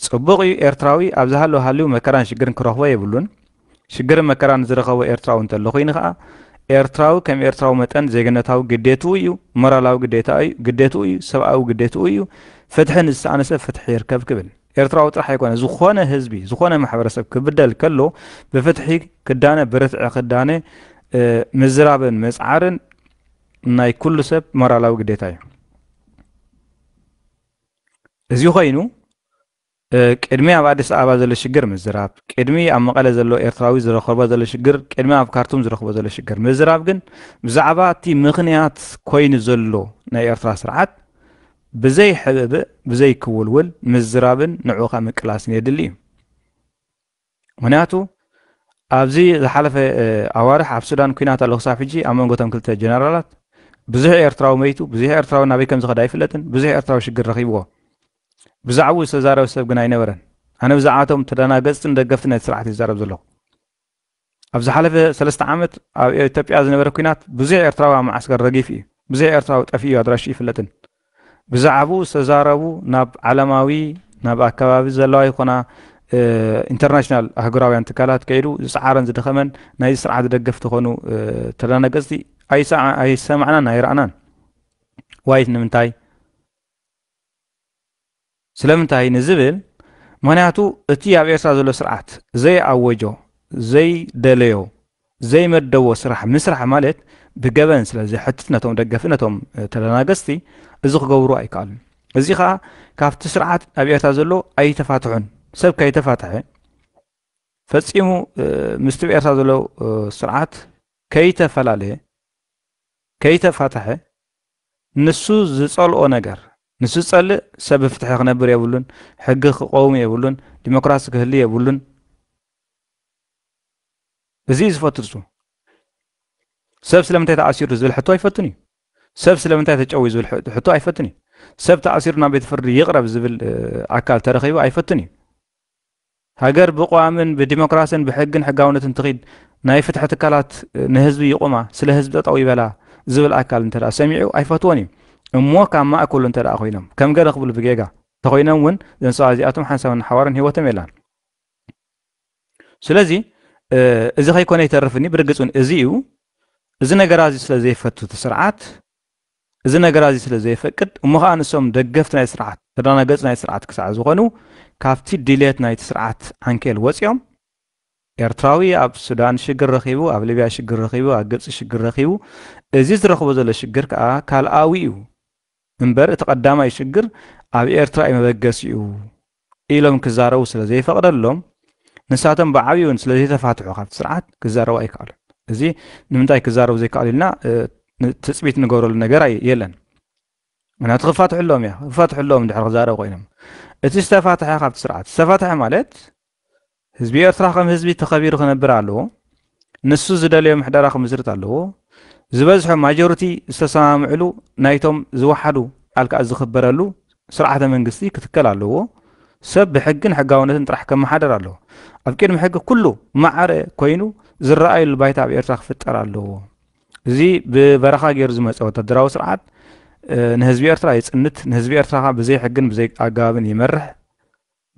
ጽቡቕ እዩ ኤርትራዊ ኣብ ዝሃለወ ሃልዩ መከራን ሽግርን ክረኽቦ የብሉን። ሽግርን መከራን ዝረኸቦ ኤርትራዊ እንተሎ ኩይኑ ከኣ ኤርትራዊ ከም ኤርትራዊ መጠን ዜግነታዊ ግዴትኡ እዩ፣ ሞራላዊ ግዴታ እዩ፣ ግዴትኡ እዩ፣ ሰብኣዊ ግዴትኡ እዩ፣ ፍትሒ ንዝሰኣነ ሰብ ፍትሒ ይርከብ ክብል። ኤርትራዊ ጥራሕ ኣይኮነ ዝኾነ ህዝቢ ዝኾነ ማሕበረሰብ ክብደል ከሎ ብፍትሒ ክዳነ ብርትዒ ክዳነ ምዝራብን ምጽዓርን ናይ ኩሉ ሰብ ሞራላዊ ግዴታ እዩ። እዚ ኮይኑ ቅድሚ ኣብ ኣዲስ ኣበባ ዘሎ ሽግር ምዝራብ ቅድሚ ኣብ መቐለ ዘሎ ኤርትራዊ ዝረኸቦ ዘሎ ሽግር ቅድሚ ኣብ ካርቱም ዝረኽቦ ዘሎ ሽግር ምዝራብ ግን ብዛዕባ እቲ ምኽንያት ኮይኑ ዘሎ ናይ ኤርትራ ስርዓት ብዘይ ሕብእብእ ብዘይ ክውልውል ምዝራብን ንዕኡኻ ምቅላስን የድሊ እዩ ምኽንያቱ ኣብዚ ዝሓለፈ ኣዋርሕ ኣብ ሱዳን ኩናት ኣሎ ክሳብ ሕጂ ኣብ መንጎ እቶም ክልተ ጀነራላት ብዙሕ ኤርትራዊ መይቱ ብዙሕ ኤርትራዊ ናበይ ከም ዝኸዳ ኣይፍለጥን ብዙሕ ኤርትራዊ ሽግር ረኺብዎ ብዛዕባኡ ዝተዛረበ ሰብ ግን ኣይነበረን ኣነ ብዛዕባቶም ተደናገፅትን ደገፍቲ ነቲ ስርዓት ይዛረብ ዘለኹ ኣብ ዝሓለፈ ሰለስተ ዓመት ኣብ ኢትዮጵያ ዝነበረ ኩናት ብዙሕ ኤርትራዊ ኣብ መዓስከር ረጊፍ እዩ ብዙሕ ኤርትራዊ ጠፊኡ ኣድራሹ ይፍለጥን ብዛዕብኡ ዝተዛረቡ ናብ ዓለማዊ ናብ ኣከባቢ ዘለዋ ይኹና ኢንተርናሽናል ኣህጉራውያን ትካላት ከይዱ ዝጸዓረን ዝደኸመን ናይዚ ስርዓት ደገፍቲ ኾኑ ተዳናገጽቲ ኣይሰማዕናን ኣይረኣናን ዋይት ንምንታይ ስለምንታይ ንዝብል፣ ምኽንያቱ እቲ ኣብ ኤርትራ ዘሎ ስርዓት ዘይኣወጆ፣ ዘይደለዮ፣ ዘይመደቦ ስራሕ ምስራሕ ማለት ብገበን ስለ ዘሕትት ነቶም ደገፍቲ ነቶም ተደናገጽቲ እዚ ክገብሩ ኣይከኣሉን። እዚ ከኣ ካብቲ ስርዓት ኣብ ኤርትራ ዘሎ ኣይተፋትሑን። ሰብ ከይተፋትሐ ፈጺሙ ምስቲ ብ ኤርትራ ዘሎ ስርዓት ከይተፈላለየ ከይተፋትሐ ንሱ ዝጸልኦ ነገር፣ ንሱ ዝጸልእ ሰብ ብፍትሒ ክነብር የብሉን፣ ሕጊ ክቐውም የብሉን፣ ዲሞክራሲ ክህሉ የብሉን፣ እዚ'ዩ ዝፈቱ ንሱ። ሰብ ስለምንታይ ተኣሲሩ ዝብል ሕቶ ኣይፈቱን እዩ። ሰብ ስለምንታይ ተጨውዩ ዝብል ሕቶ ኣይፈቱን እዩ። ሰብ ተኣሲሩ ናብ ቤት ፍርዲ ይቕረብ ዝብል ኣካል ተረኺቡ ኣይፈቱን እዩ። ሃገር ብቅዋምን ብዲሞክራስን ብሕግን ሕጋውነትን ትኺድ፣ ናይ ፍትሒ ትካላት ንህዝቢ ይቑማ፣ ስለ ህዝቢ ጠጠው ይበላ ዝብል ኣካል እንተድኣ ሰሚዑ ኣይፈትዎን እዩ። እሞ ካብ ማእከሉ እንተድኣ ኮይኖም፣ ከም ገለ ክብሉ ብጌጋ እንተኾይኖም እውን እዘን ሰባት እዚኣቶም ሓንሳብን ሓዋርን ህይወቶም የላን። ስለዚ እዚ ከይኮነ ኣይተርፍን እዩ። ብርግጽ እውን እዚ እዩ። እዚ ነገራ እዚ ስለ ዘይፈቱ እቲ ስርዓት እዚ ነገራ እዚ ስለ ዘይፈቅድ እሞ ከኣ ንሶም ደገፍቲ ናይ ስርዓት ተዳናገጽ ናይ ስርዓት ክሳዕ ዝኾኑ ካብቲ ድልየት ናይቲ ስርዓት ዓንኬል ወጺኦም ኤርትራዊ ኣብ ሱዳን ሽግር ረኺቡ ኣብ ሊብያ ሽግር ረኺቡ ኣብ ግብጺ ሽግር ረኺቡ እዚ ዝረኽቦ ዘሎ ሽግር ከኣ ካልኣዊ እዩ እምበር እቲ ቀዳማይ ሽግር ኣብ ኤርትራ እዩ መበገሲኡ ኢሎም ክዛረቡ ስለ ዘይፈቕደሎም ንሳቶም ብዓብዩን ስለ ዘይተፋትሑ ካብቲ ስርዓት ክዛረቡ ኣይከኣሉን። እዚ ንምንታይ ክዛረቡ ዘይከኣሉ ኢልና ትፅቢት ንገብረሉ ነገር የለን። ምክንያቱ ክፋትሕሎም እያ ክፋትሕሎም ድሕር ክዛረቡ ኮይኖም እቲ ዝተፋትሐ ካብቲ ስርዓት ዝተፋትሐ ማለት ህዝቢ ኤርትራ ከም ህዝቢ ተኸቢሩ ክነብር ኣለዎ። ንሱ ዝደለዮ ምሕደራ ክምስርት ኣለዎ። ዝበዝሑ፣ ማጆሪቲ፣ ዝተሰማምዕሉ ናይቶም ዝወሓዱ ኣልክኣት ዝኽበረሉ ስርዓተ መንግስቲ ክትከል ኣለዎ። ሰብ ብሕግን ሕጋውነትን ጥራሕ ከመሓደር ኣለዎ። ኣብ ቅድሚ ሕጊ ኩሉ ማዕረ ኮይኑ ዝረኣዩሉ ባይታ ኣብ ኤርትራ ክፍጠር ኣለዎ። እዚ ብበረኻ ገይሩ ዝመጸ ወተሃደራዊ ስርዓት ንህዝቢ ኤርትራ የጽንት፣ ንህዝቢ ኤርትራ ብዘይ ሕግን ብዘይ ኣገባብን ይመርሕ።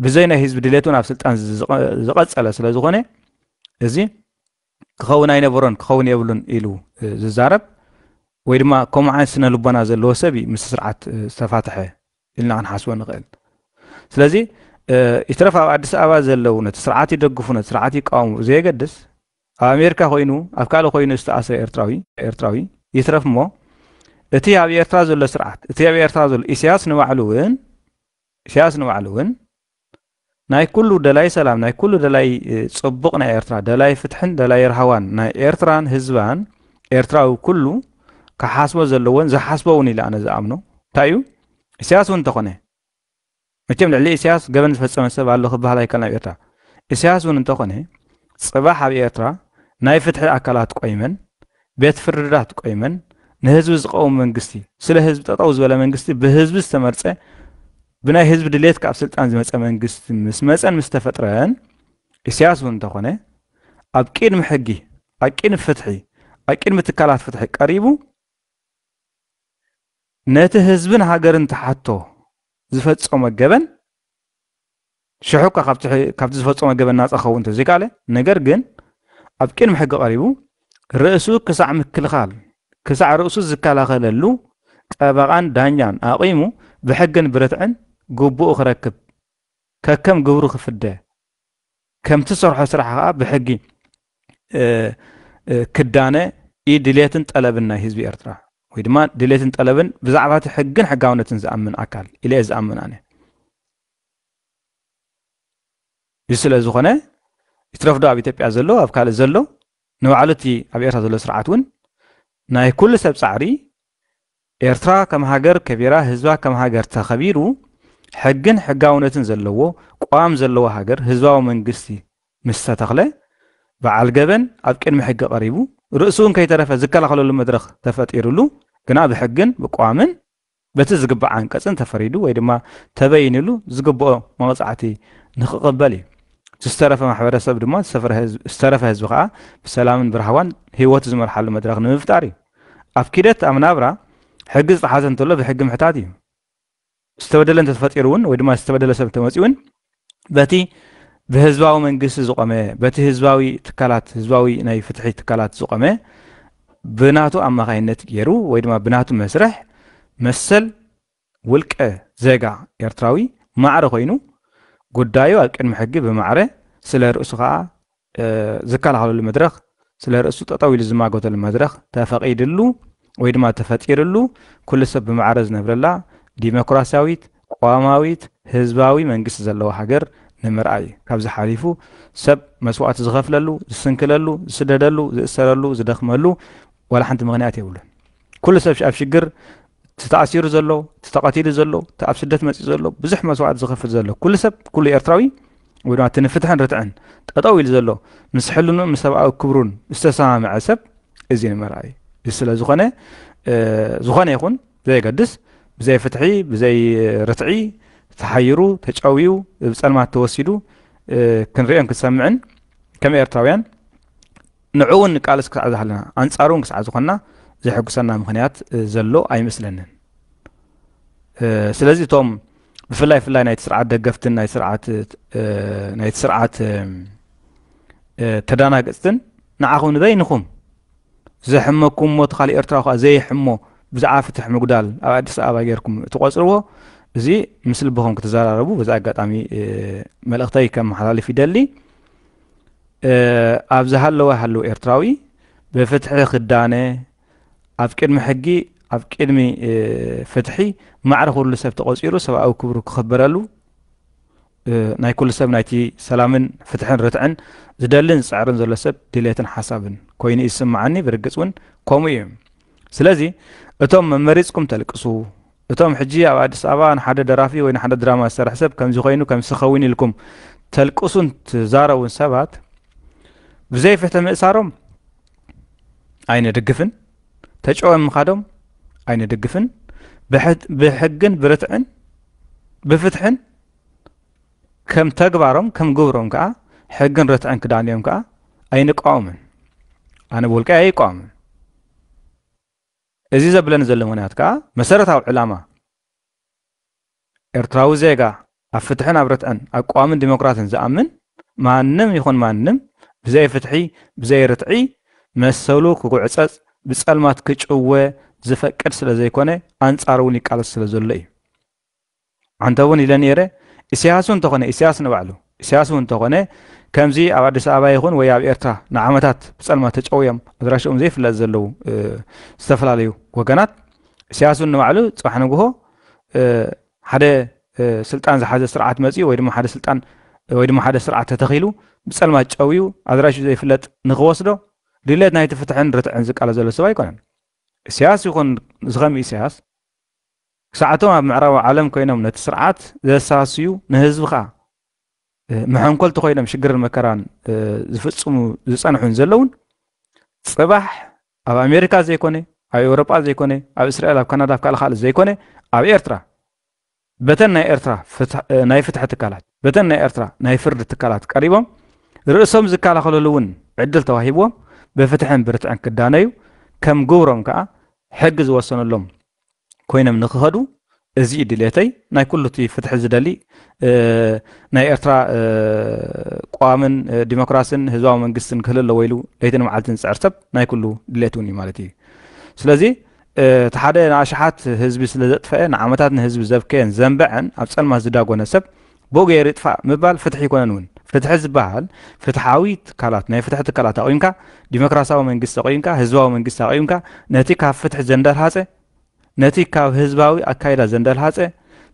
ብዘይ ናይ ህዝቢ ድሌት እውን ኣብ ስልጣን ዝቐጸለ ስለ ዝኾነ እዚ ክኸውን ኣይነበሮን ክኸውን የብሉን ኢሉ ዝዛረብ ወይ ድማ ከምኡ ዓይነት ስነ ልቦና ዘለዎ ሰብ እዩ ምስ ስርዓት ዝተፋትሐ ኢልና ክንሓስቦ ንኽእል ስለዚ ይትረፍ ኣብ ኣዲስ ኣበባ ዘለዉ ነቲ ስርዓት ይደግፉ ነቲ ስርዓት ይቃወሙ ዘየገድስ ኣብ ኣሜሪካ ኮይኑ ኣብ ካልእ ኮይኑ ዝተኣስረ ኤርትራዊ ኤርትራዊ ይትረፍ እሞ እቲ ኣብ ኤርትራ ዘሎ ስርዓት እቲ ኣብ ኤርትራ ዘሎ ኢሳያስ ንባዕሉ እውን ኢሳያስ ንባዕሉ እውን ናይ ኩሉ ደላይ ሰላም ናይ ኩሉ ደላይ ጽቡቕ ናይ ኤርትራ ደላይ ፍትሕን ደላይ ርሃዋን ናይ ኤርትራን ህዝባን ኤርትራዊ ኩሉ ክሓስቦ ዘለዎን ዝሓስቦ እውን ኢለ ኣነ ዝኣምኖ እንታይ እዩ ኢሳያስ እውን እንተኾነ መቸም ልዕሊ ኢሳያስ ገበን ዝፈጸመ ሰብ ኣሎ ክበሃል ኣይከልና ኣብ ኤርትራ ኢሳያስ እውን እንተኾነ ጽባሕ ኣብ ኤርትራ ናይ ፍትሒ ኣካላት ቆይመን ቤት ፍርድታት ቆይመን ንህዝቢ ዝቐውም መንግስቲ፣ ስለ ህዝቢ ጠጠው ዝበለ መንግስቲ፣ ብህዝቢ ዝተመርጸ፣ ብናይ ህዝቢ ድሌት ካብ ስልጣን ዝመጸ መንግስቲ ምስ መጸን ምስ ተፈጥረን፣ ኢሳያስ እውን እንተኾነ ኣብ ቂድሚ ሕጊ፣ ኣብ ቂድሚ ፍትሒ፣ ኣብ ቂድሚ ትካላት ፍትሒ ቀሪቡ ነቲ ህዝብን ሃገርን ተሓቶ ዝፈጸሞ ገበን ሽሕ እኳ ካብቲ ዝፈጸሞ ገበን ናጻ ክኸውን እንተዘይከኣለ፣ ነገር ግን ኣብ ቅድሚ ሕጊ ቀሪቡ ርእሱ ክሳዕ ምክልኻል ክሳዕ ርእሱ ዝከላኸለሉ ጠበቓን ዳኛን ኣቚሙ ብሕግን ብርትዕን ግቡኡ ክረክብ ከከም ግብሩ ክፍደ ከምቲ ዝሰርሖ ስራሕ ከኣ ብሕጊ ክዳነ እዩ ድሌትን ጠለብን ናይ ህዝቢ ኤርትራ ወይ ድማ ድሌትን ጠለብን ብዛዕባ እቲ ሕግን ሕጋውነትን ዝኣምን ኣካል ኢለ ዝኣምን ኣነ እዚ ስለ ዝኾነ ይትረፍዶ ኣብ ኢትዮጵያ ዘሎ ኣብ ካልእ ዘሎ ንባዕሉ እቲ ኣብ ኤርትራ ዘሎ ስርዓት እውን ናይ ኩሉ ሰብ ጻዕሪ ኤርትራ ከም ሃገር ከቢራ ህዝባ ከም ሃገር ተኸቢሩ ሕግን ሕጋውነትን ዘለዎ ቋም ዘለዎ ሃገር ህዝባዊ መንግስቲ ምስ ተተኽለ በዓል ገበን ኣብ ቅድሚ ሕጊ ቀሪቡ ርእሱ እውን ከይተረፈ ዝከላኸለሉ መድረኽ ተፈጢሩሉ ግና ብሕግን ብቋምን በቲ ዝግባእ ዓንቀጽ እንተፈሪዱ ወይ ድማ ተበይንሉ ዝግብኦ መቕጻዕቲ ንኽቕበል እዩ። እቲ ዝተረፈ ማሕበረሰብ ድማ ዝተረፈ ህዝቢ ከኣ ብሰላምን ብራህዋን ህይወቱ ዝመርሓሉ መድረኽ ንምፍጣር እዩ። ኣብ ኪደት ኣብ ናብራ ሕጊ ዝጠሓሰ እንተሎ ብሕጊ ምሕታት እዩ። ዝተበደለ እንተተፈጢሩ እውን ወይ ድማ ዝተበደለ ሰብ እንተመጺኡ እውን በቲ ብህዝባዊ መንግስቲ ዝቆመ በቲ ህዝባዊ ትካላት ህዝባዊ ናይ ፍትሒ ትካላት ዝቆመ ብናቱ ኣማኻይነት ገይሩ ወይ ድማ ብናቱ መስርሕ መሰል ውልቀ ዜጋ ኤርትራዊ ማዕረ ኮይኑ ጉዳዩ ኣብ ቅድሚ ሕጊ ብማዕረ ስለ ርእሱ ከዓ ዝከላኸለሉ መድረኽ፣ ስለ ርእሱ ጠጠው ኢሉ ዝማጎተሉ መድረኽ ተፈቒድሉ ወይ ድማ ተፈጢርሉ ኩሉ ሰብ ብማዕረ ዝነብረላ ዲሞክራሲያዊት፣ ቅዋማዊት፣ ህዝባዊ መንግስቲ ዘለዋ ሃገር ንምርኣይ ካብዚ ሓሊፉ ሰብ መስዋእቲ ዝኸፍለሉ፣ ዝስንክለሉ፣ ዝስደደሉ፣ ዝእሰረሉ፣ ዝደኽመሉ ዋላ ሓንቲ ምኽንያት የብሉን። ኩሉ ሰብ ኣብ ሽግር እቲ ተኣሲሩ ዘሎ እቲ ተቐቲሉ ዘሎ እቲ ኣብ ስደት መፅኡ ዘሎ ብዙሕ መስዋዕት ዝኸፍል ዘሎ ኩሉ ሰብ ኩሉ ኤርትራዊ ወይ ድማ እቲ ንፍትሕን ርትዕን ጠጠው ኢሉ ዘሎ ምስ ሕልኑ ምስ ሰብኣዊ ክብሩን ዝተሰማምዐ ሰብ እዚ ንመርኣዩ እዚ ስለ ዝኾነ ዝኾነ ይኹን ዘየገድስ ብዘይ ፍትሒ ብዘይ ርትዒ ተሓይሩ ተጨውዩ ብፀልማት ተወሲዱ ክንሪኦን ክንሰምዕን ከም ኤርትራውያን ንዕኡ እውን ንቃለስ ክሳዕ ዝሃለና፣ ኣንጻሩ እውን ክሳዕ ዝኾንና ዘሕጉሰና ምኽንያት ዘሎ ኣይመስለንን። ስለዚ እቶም ብፍላይ ፍላይ ናይቲ ስርዓት ደገፍትን ናይ ስርዓት ናይቲ ስርዓት ተዳናገጽትን ንዓኹም ንበይንኹም ዘሕመኩም ሞት ካልእ ኤርትራ ኳ ዘይሕሞ ብዛዕባ ፍትሕ ምጉዳል ኣብ ኣዲስ ኣበባ ጌርኩም እትቆጽርዎ እዚ ምስ ልብኹም ክትዘራረቡ በዚ ኣጋጣሚ መልእኽተይ ከመሓላልፍ ይደሊ ኣብ ዝሃለወ ሃለዉ ኤርትራዊ ብፍትሒ ክዳነ ኣብ ቅድሚ ሕጊ ኣብ ቅድሚ ፍትሒ ማዕረ ኩሉ ሰብ ተቆፂሩ ሰብኣዊ ክብሩ ክኽበረሉ ናይ ኩሉ ሰብ ናይቲ ሰላምን ፍትሕን ርትዕን ዝደልን ዝፅዕርን ዘሎ ሰብ ድሌትን ሓሳብን ኮይኑ እዩ ዝስምዓኒ ብርግፅ እውን ከምኡ እዩ ስለዚ እቶም መመሪፅኩም ተልቅሱ እቶም ሕጂ ኣብ ኣዲስ ኣበባ ንሓደ ደራፊ ወይ ንሓደ ድራማ ዝሰርሕ ሰብ ከምዚ ኮይኑ ከምሲ ከዊን ኢልኩም ተልቅሱን ትዛረቡን ሰባት ብዘይ ፍትሒ ምእሳሮም ኣይንድግፍን ተጨወም ምኻዶም ኣይንድግፍን ብሕግን ብርትዕን ብፍትሕን ከም ተግባሮም ከም ግብሮም ከዓ ሕግን ርትዕን ክዳንዮም ከዓ ኣይንቃወምን ኣነ ብውልቀይ ኣይቃወምን እዚ ዘብለኒ ዘሎ ምኽንያት ከኣ መሰረታዊ ዕላማ ኤርትራዊ ዜጋ ኣብ ፍትሕን ኣብ ርትዕን ኣብ ቀዋምን ዲሞክራሲን ዝኣምን ማንም ይኹን ማንም ብዘይ ፍትሒ ብዘይ ርትዒ መሰሉ ክጉዕጸጽ ብጸልማት ክጭወ ዝፈቅድ ስለዘይኮነ ኣንጻሩ እውን ይቃለስ ስለዘሎ እዩ። ኣንተ እውን ኢለ ነይረ ኢሰያስ እውን ተኾነ ኢሰያስ ንባዕሉ ኢሰያስ እውን ተኾነ ከምዚ ኣብ ኣዲስ ኣበባ ይኹን ወይ ኣብ ኤርትራ ንዓመታት ብጸልማት ተጨውዮም ኣድራሽኦም ዘይፍለጥ ዘለዉ ዝተፈላለዩ ወገናት ኢሰያስ እውን ንባዕሉ ጽባሕ ንግሆ ሓደ ስልጣን ዝሓዘ ስርዓት መጽኡ ወይ ድማ ሓደ ስልጣን ወይ ድማ ሓደ ስርዓት ተተኺሉ ብጸልማት ጨውዩ ኣድራሹ ዘይፍለጥ ንኽወስዶ ድሌት ናይቲ ፍትሕን ርትዕን ዝቃለ ዘሎ ሰብ ኣይኮነን ኢሰያስ ይኹን ዝኸም ኢሰያስ ክሳዕ እቶም ኣብ ምዕራባዊ ዓለም ኮይኖም ነቲ ስርዓት ዘሳስዩ ንህዝቢ ከኣ መሐንኮልቲ ኮይኖም ሽግርን መከራን ዝፍጽሙ ዝጸንሑን ዘለውን ጽባሕ ኣብ ኣሜሪካ ዘይኮነ ኣብ ኤውሮጳ ዘይኮነ ኣብ እስራኤል ኣብ ካናዳ ኣብ ካልእ ካልእ ዘይኮነ ኣብ ኤርትራ በተን ናይ ኤርትራ ናይ ፍትሒ ትካላት በተን ናይ ኤርትራ ናይ ፍርዲ ትካላት ቀሪቦም ርእሶም ዝከላኸለሉ እውን ዕድል ተዋሂብዎም ብፍትሕን ብርትዕን ክዳነዩ ከም ግብሮም ከዓ ሕጊ ዝወሰነሎም ኮይኖም ንክኸዱ እዚ እዩ ድሌተይ ናይ ኩሉ እቲ ፍትሒ ዝደሊ ናይ ኤርትራ ቋምን ዲሞክራሲን ህዝባዊ መንግስትን ክህል ኣለዎ ኢሉ ለይትን መዓልትን ዝፅዕር ሰብ ናይ ኩሉ ድሌት እውን እዩ ማለት እዩ ስለዚ እቲ ሓደ ንኣሽሓት ህዝቢ ስለ ዘጥፈአ ንዓመታት ንህዝቢ ዘብከየን ዘንበዐን ኣብ ፀልማት ዝዳጎነ ሰብ ብኡ ገይሩ ይጥፋእ ምባል ፍትሒ ኣይኮነን እውን። ፍትሒ ዝበሃል ፍትሓዊ ትካላት፣ ናይ ፍትሒ ትካላት ኣቚምካ፣ ዲሞክራሲያዊ መንግስቲ ኣቚምካ፣ ህዝባዊ መንግስቲ ኣቚምካ፣ ነቲ ካብ ፍትሒ ዘንደልሃጸ፣ ነቲ ካብ ህዝባዊ ኣካይዳ ዘንደልሃጸ፣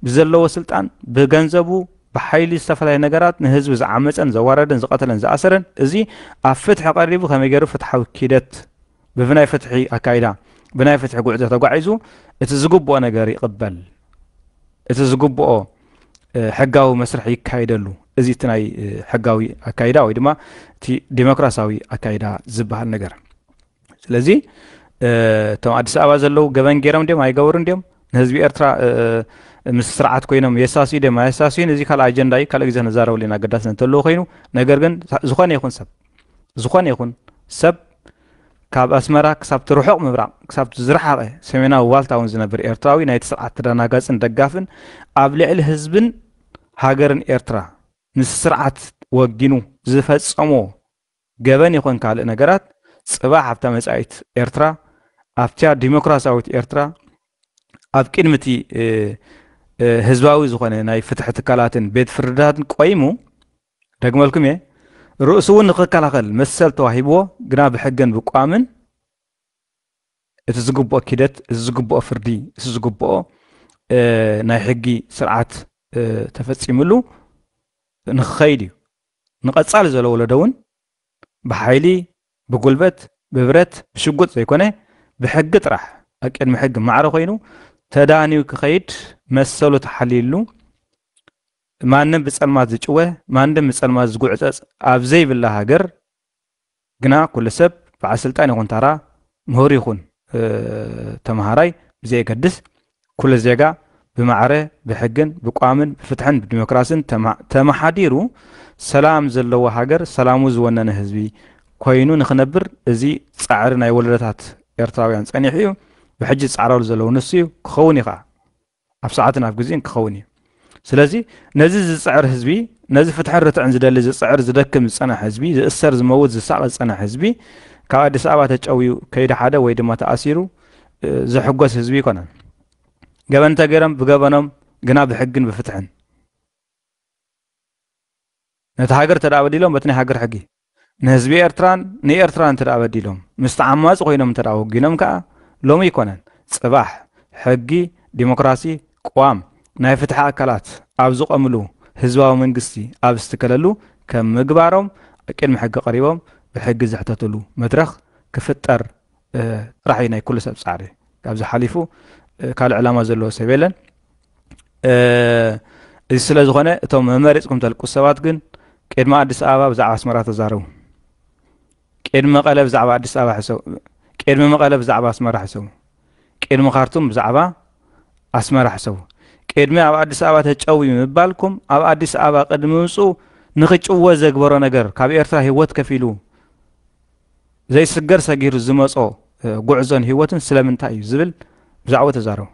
ብዘለዎ ስልጣን፣ ብገንዘቡ፣ ብሓይሊ ዝተፈላለየ ነገራት ንህዝቢ ዝዓመጸን ዘዋረደን ዝቐተለን ዝኣሰረን፣ እዚ ኣብ ፍትሒ ቀሪቡ ከመይ ገይሩ ፍትሓዊ ኪደት፣ ብናይ ፍትሒ ኣካይዳ፣ ብናይ ፍትሒ ጉዕዞ ተጓዒዙ እቲ ዝግብኦ ነገር ይቕበል፣ እቲ ዝግብኦ ሕጋዊ መስርሕ ይካይደሉ። እዚ እቲ ናይ ሕጋዊ ኣካይዳ ወይ ድማ እቲ ዴሞክራሲያዊ ኣካይዳ ዝበሃል ነገር። ስለዚ እቶም ኣዲስ ኣበባ ዘለዉ ገበን ገይሮም ድዮም ኣይገበሩን ድዮም ንህዝቢ ኤርትራ ምስ ስርዓት ኮይኖም የሳስዩ ድዮም ኣየሳስዩን እዚ ካልእ ኣጀንዳ እዩ ካልእ ግዜ ንዛረበሉ ኢና ኣገዳሲ እንተለዎ ኮይኑ ነገር ግን ዝኾነ ይኹን ሰብ ዝኾነ ይኹን ሰብ ካብ ኣስመራ ክሳብቲ ርሑቕ ምብራቕ ክሳብቲ ዝረሓቐ ሰሜናዊ ዋልታ እውን ዝነብር ኤርትራዊ ናይቲ ስርዓት ተደናጋጽን ደጋፍን ኣብ ልዕሊ ህዝብን ሃገርን ኤርትራ ምስ ስርዓት ወጊኑ ዝፈጸሞ ገበን ይኹን ካልእ ነገራት ጽባሕ ኣብታ መጻኢት ኤርትራ ኣብቲያ ዲሞክራሲያዊት ኤርትራ ኣብ ቅድሚ እቲ ህዝባዊ ዝኾነ ናይ ፍትሒ ትካላትን ቤት ፍርድታትን ቆይሙ ደግመልኩም እየ ርእሱ እውን ንክከላኸል መሰል ተዋሂብዎ ግና ብሕገን ብቋምን እቲ ዝግብኦ ኪደት እዚ ዝግብኦ ፍርዲ እዚ ዝግብኦ ናይ ሕጊ ስርዓት ተፈፂምሉ ንክኸይድ እዩ ንቐፃሊ ዘሎ ወለዶ እውን ብሓይሊ ብጉልበት ብብረት ብሽጉጥ ዘይኮነ ብሕጊ ጥራሕ ኣብ ቅድሚ ሕጊ ማዕረ ኮይኑ ተዳንዩ ክኸይድ መሰሉ ተሓልዩሉ ንማንም ብጸልማት ዝጭወ ማንድም ብጸልማት ዝጉዕጸጽ ኣብ ዘይብላ ሃገር ግና ኩሉ ሰብ በዓል ስልጣን ይኹን ታራ ምሁር ይኹን ተምሃራይ ብዘየገድስ ኩሉ ዜጋ ብማዕረ ብሕግን ብቋምን ብፍትሕን ብዲሞክራስን ተመሓዲሩ ሰላም ዘለዎ ሃገር ሰላሙ ዝወነነ ህዝቢ ኮይኑ ንክነብር እዚ ጻዕሪ ናይ ወለዶታት ኤርትራውያን ጸኒሑ እዩ ብሕጂ ዝጻዕራሉ ዘለዉ ንሱ እዩ ክኸውን እዩ ከዓ ኣብ ሰዓትን ኣብ ግዜን ክኸውን እዩ ስለዚ ነዚ ዝጽዕር ህዝቢ ነዚ ፍትሕን ርትዕን ዝደሊ ዝጽዕር ዝደክም ዝጸናሕ ህዝቢ ዝእሰር ዝመውት ዝሳቐ ዝጸናሕ ህዝቢ ካብ ኣዲስ ኣበባ ተጨውዩ ከይዲ ሓደ ወይ ድማ ተኣሲሩ ዝሕጎስ ህዝቢ ኣይኮነን ገበን እንተገይሮም ብገበኖም ግና ብሕግን ብፍትሕን ነቲ ሃገር ተደኣ በዲሎም በቲ ናይ ሃገር ሕጊ ንህዝቢ ኤርትራን ንኤርትራን እንተደኣ በዲሎም፣ ምስቲ ዓማጺ ኮይኖም እንተደኣ ወጊኖም ከኣ፣ ሎሚ ኣይኮነን ጽባሕ፣ ሕጊ፣ ዲሞክራሲ፣ ቅዋም፣ ናይ ፍትሒ ኣካላት ኣብ ዝቖምሉ፣ ህዝባዊ መንግስቲ ኣብ ዝትከለሉ ከም ምግባሮም፣ ኣብ ቅድሚ ሕጊ ቀሪቦም ብሕጊ ዝሕተትሉ መድረኽ ክፍጠር ጥራሕ እዩ ናይ ኩሉ ሰብ ፃዕሪ ካብዚ ሓሊፉ ካልእ ዕላማ ዘለዎ ሰብ የለን እዚ ስለ ዝኾነ እቶም መመሪፅኩም ተልቁ ሰባት ግን ቅድሚ ኣዲስ ኣበባ ብዛዕባ ኣስመራ ተዛረቡ ቅድሚ መቐለ ብዛዕባ ኣዲስ ኣበባ ሕሰቡ ቅድሚ መቐለ ብዛዕባ ኣስመራ ሕሰቡ ቅድሚ ካርቱም ብዛዕባ ኣስመራ ሕሰቡ ቅድሚ ኣብ ኣዲስ ኣበባ ተጨዊ ምባልኩም ኣብ ኣዲስ ኣበባ ቅድሚ ምምፅኡ ንክጭወ ዘግበሮ ነገር ካብ ኤርትራ ሂወት ከፊሉ ዘይስገር ሰጊሩ ዝመጾ ጉዕዞን ህይወትን ስለምንታይ እዩ ዝብል ብዛዕባኡ ተዛረቡ።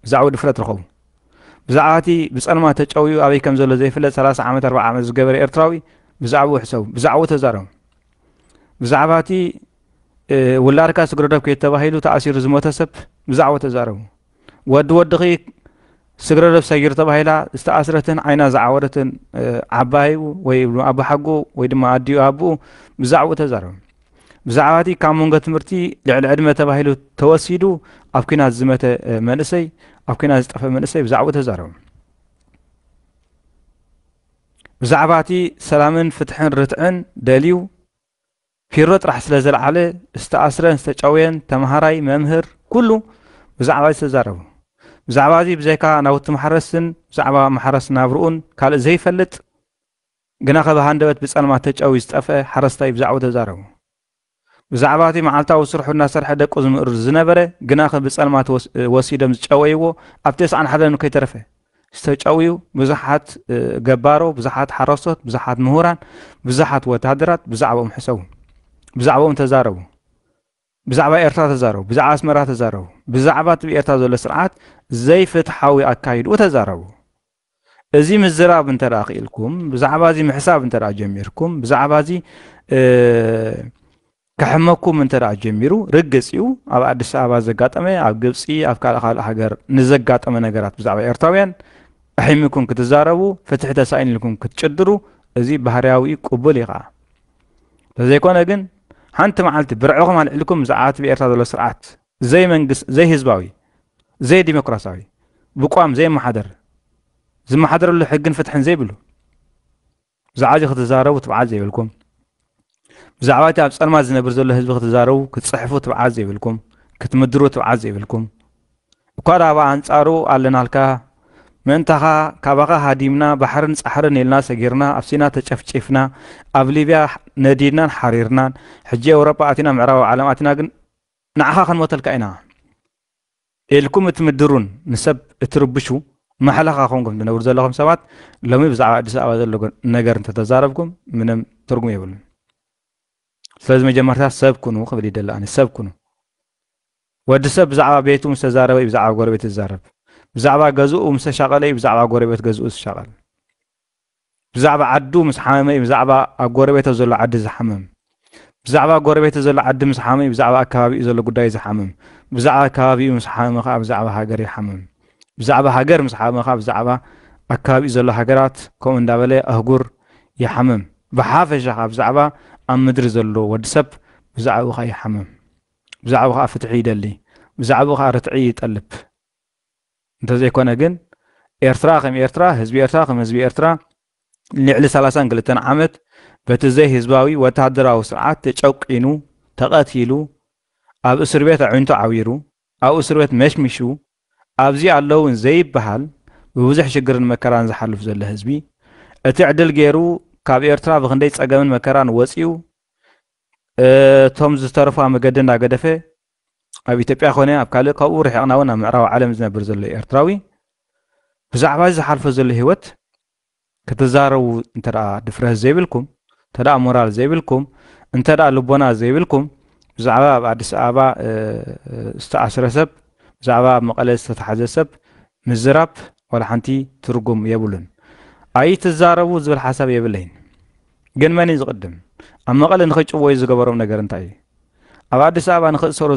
ብዛዕባኡ ድፍረት ረኸቡ። ብዛዕባ እቲ ብጸልማት ተጨውዩ ኣበይ ከም ዘሎ ዘይፍለጥ ሰላሳ ዓመት ኣርባዓ ዓመት ዝገበረ ኤርትራዊ ብዛዕባኡ ሕሰቡ። ብዛዕባኡ ተዛረቡ። ብዛዕባ እቲ ውላድካ ስግረዶብ ከይተባሂሉ ተኣሲሩ ዝሞተ ሰብ ብዛዕባኡ ተዛረቡ። ወዲ ወድኺ ስግረዶብ ሰጊር ተባሂላ ዝተኣስረትን ዓይና ዝዓወረትን ዓባዩ ወይ ኣቦሓጎ ወይ ድማ ኣዲኡ ኣቦኡ ብዛዕባኡ ተዛረቡ ብዛዕባ እቲ ካብ መንጎ ትምህርቲ ልዕሊ ዕድመ ተባሂሉ ተወሲዱ ኣብ ኩናት ዝመተ መንእሰይ ኣብ ኩናት ዝጠፈ መንእሰይ ብዛዕባኡ ተዛረቡ ብዛዕባ እቲ ሰላምን ፍትሕን ርትዕን ደልዩ ፊሮ ጥራሕ ስለ ዘልዓለ ዝተኣስረን ዝተጨውየን ተምሃራይ መምህር ኩሉ ብዛዕባ እዚ ተዛረቡ። ብዛዕባ እዚ ብዘይካ ናውቲ ማሕረስን ብዛዕባ ማሕረስ ናብርኡን ካልእ ዘይፈልጥ ግናኸ ብሃንደበት ብጸልማት ተጨውዩ ዝጠፍኤ ሓረስታይ ብዛዕብኡ ተዛረቡ። ብዛዕባ እቲ መዓልታዊ ስርሑ እናሰርሐ ደቁ ዝምእርር ዝነበረ ግናኸ ብጸልማት ወሲዶም ዝጨወይዎ ኣብ ተስዓን ሓደን ከይተረፈ ዝተጨውዩ ብዙሓት ገባሮ ብዙሓት ሓረስቶት ብዙሓት ምሁራን ብዙሓት ወተሃደራት ብዛዕባኦም ሕሰቡ ብዛዕባኦም ተዛረቡ ብዛዕባ ኤርትራ ተዛረቡ ብዛዕባ ኣስመራ ተዛረቡ ብዛዕባ እቲ ብኤርትራ ዘሎ ስርዓት ዘይፍትሓዊ ኣካይድኡ ተዛረቡ እዚ ምዝራብ እንተ ክኢልኩም ብዛዕባ እዚ ምሕሳብ እንተ ጀሚርኩም ብዛዕባ እዚ ከሕመኩም እንተ ጀሚሩ ርግጽ እዩ ኣብ ኣዲስ ኣበባ ዘጋጠመ ኣብ ግብጺ ኣብ ካልእ ካልእ ሃገር ንዘጋጠመ ነገራት ብዛዕባ ኤርትራውያን ኣሒሚኩም ክትዛረቡ ፍትሒ ተሳኢን ኢልኩም ክትጭድሩ እዚ ባህርያዊ ቅቡል እዩ ከዓ ተዘይኮነ ግን ሓንቲ መዓልቲ ብርዕኹም ኣልዕልኩም ዝዓት ብኤርትራ ዘሎ ስርዓት ዘይመንግስት ዘይህዝባዊ ዘይዲሞክራሲያዊ ብቋም ዘይመሓደር ዝመሓደረሉ ሕግን ፍትሕን ዘይብሉ ብዛዕባ እዚ ክትዛረቡ ትብዓት ዘይብልኩም፣ ብዛዕባ እቲ ኣብ ጸልማት ዝነብር ዘሎ ህዝቢ ክትዛረቡ፣ ክትጽሕፉ ትብዓት ዘይብልኩም፣ ክትምድሩ ትብዓት ዘይብልኩም፣ እኳ ደኣ ኣብ ኣንጻሩ ኣለናልካ፣ ምእንታኻ ካባኻ ሃዲምና፣ ባሕርን ጻሕርን ኢልና ሰጊርና፣ ኣብ ሲና ተጨፍጪፍና፣ ኣብ ሊብያ ነዲድናን ሓሪርናን፣ ሕጂ ኤውሮጳ ኣቲና ምዕራባዊ ዓለም ኣቲና ግን ንዓኻ ክንሞተልካ ኢና። ኤልኩም እትምድሩን ንሰብ እትርብሹ ማሕለኻ ኮንኩም ትነብሩ ዘለኹም ሰባት ሎሚ ብዛዕባ ኣዲስ ኣበባ ዘሎ ነገር እንተተዛረብኩም ምንም ትርጉም የብሉን። ስለዚ መጀመርታ ሰብ ኩኑ ክብል ይደሊ ኣነ ሰብ ኩኑ። ወዲ ሰብ ብዛዕባ ቤቱ ምስ ተዛረበ እዩ ብዛዕባ ጎረቤት ዝዛረብ። ብዛዕባ ገዝኡ ምስ ተሻቐለ እዩ ብዛዕባ ጎረቤት ገዝኡ ዝሻቐል። ብዛዕባ ዓዱ ምስ ሓመመ እዩ ብዛዕባ ኣብ ጎረቤቶ ዘሎ ዓዲ ዝሓምም። ብዛዕባ ጎረቤቱ ዘሎ ዓዲ ምስ ሓመመ እዩ ብዛዕባ ኣከባቢኡ ዘሎ ጉዳይ ዝሓምም። ብዛዕባ ከባቢኡ ምስ ሓመመ ከኣ ብዛዕባ ሃገር ይሓምም። ብዛዕባ ሃገር ምስ ሓመመ ከኣ ብዛዕባ ኣከባቢኡ ዘሎ ሃገራት ከምኡ እንዳበለ ኣህጉር ይሓምም። ብሓፈሻ ከኣ ብዛዕባ ኣብ ምድሪ ዘሎ ወዲ ሰብ ብዛዕብኡ ከኣ ይሓምም። ብዛዕብኡ ከኣ ፍትሒ ይደሊ። ብዛዕብኡ ከኣ ርትዒ ይጠልብ። እንተዘይኮነ ግን ኤርትራ ከም ኤርትራ፣ ህዝቢ ኤርትራ ከም ህዝቢ ኤርትራ ንልዕሊ ሰላሳን ክልተን ዓመት በቲ ዘይህዝባዊ ወተሃደራዊ ስርዓት ተጨቊኑ፣ ተቐቲሉ፣ ኣብ እስርቤት ኣዒንቱ ዓዊሩ፣ ኣብ እስርቤት መሽሚሹ፣ ኣብዚ ኣለውን ዘይበሃል ብብዙሕ ሽግርን መከራን ዝሓልፍ ዘሎ ህዝቢ፣ እቲ ዕድል ገይሩ ካብ ኤርትራ ብክንደይ ጸገምን መከራን ወጺኡ እቶም ዝተረፉ ኣብ መገዲ እንዳገደፈ ኣብ ኢትዮጵያ ኮነ ኣብ ካልእ ካብኡ ርሒቕና እውን ኣብ ምዕራብ ዓለም ዝነብር ዘሎ ኤርትራዊ ብዛዕባ እዚ ዝሓልፎ ዘሎ ህይወት ክትዛረቡ እንተ ድፍረት ዘይብልኩም እንተ ሞራል ዘይብልኩም እንተ ልቦና ዘይብልኩም ብዛዕባ ኣብ ኣዲስ ኣበባ ዝተኣስረ ሰብ ብዛዕባ ኣብ መቐለ ዝተታሓዘ ሰብ ምዝራብ ዋላ ሓንቲ ትርጉም የብሉን ኣይትዛረቡ ዝብል ሓሳብ የብለይን ግን መን እዩ ዝቕድም? ኣብ መቐለ ንኸይጭወዩ ዝገበሮም ነገር እንታይ እዩ? ኣብ ኣዲስ ኣበባ ንኽእሰሩ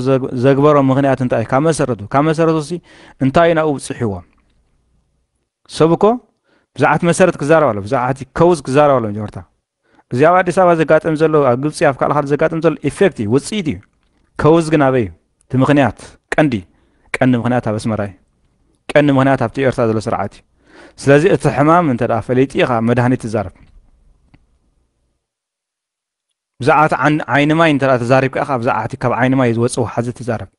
ዘግበሮም ምኽንያት እንታይ እዩ? ካብ መሰረቱ ካብ መሰረቱሲ እንታይ እዩ ናብኡ ብፅሒዎም? ሰብ እኮ ብዛዕት መሰረት ክዛረብ ኣሎ ብዛዕት ከውዝ ክዛረብ ኣሎ መጀመርታ እዚ ኣብ ኣዲስ ኣበባ ዘጋጥም ዘሎ ኣብ ግብፂ ኣብ ካልእ ካልእ ዘጋጥም ዘሎ ኢፌክት እዩ ውፅኢት እዩ ከውዝ ግን ኣበይ እዩ እቲ ምኽንያት፣ ቀንዲ ቀንዲ ምኽንያት ኣብ ኣስመራ እዩ። ቀንዲ ምኽንያት ኣብቲ ኤርትራ ዘሎ ስርዓት እዩ። ስለዚ እቲ ሕማም እንተ ፈሊጢ ኢኻ መድሃኒት ትዛረብ። ብዛዕባቲ ዓይኒ ማይ እንተ ተዛሪብካ ኢኻ ብዛዕባቲ ካብ ዓይኒ ማይ ዝወጽእ ውሓዚ ትዛረብ።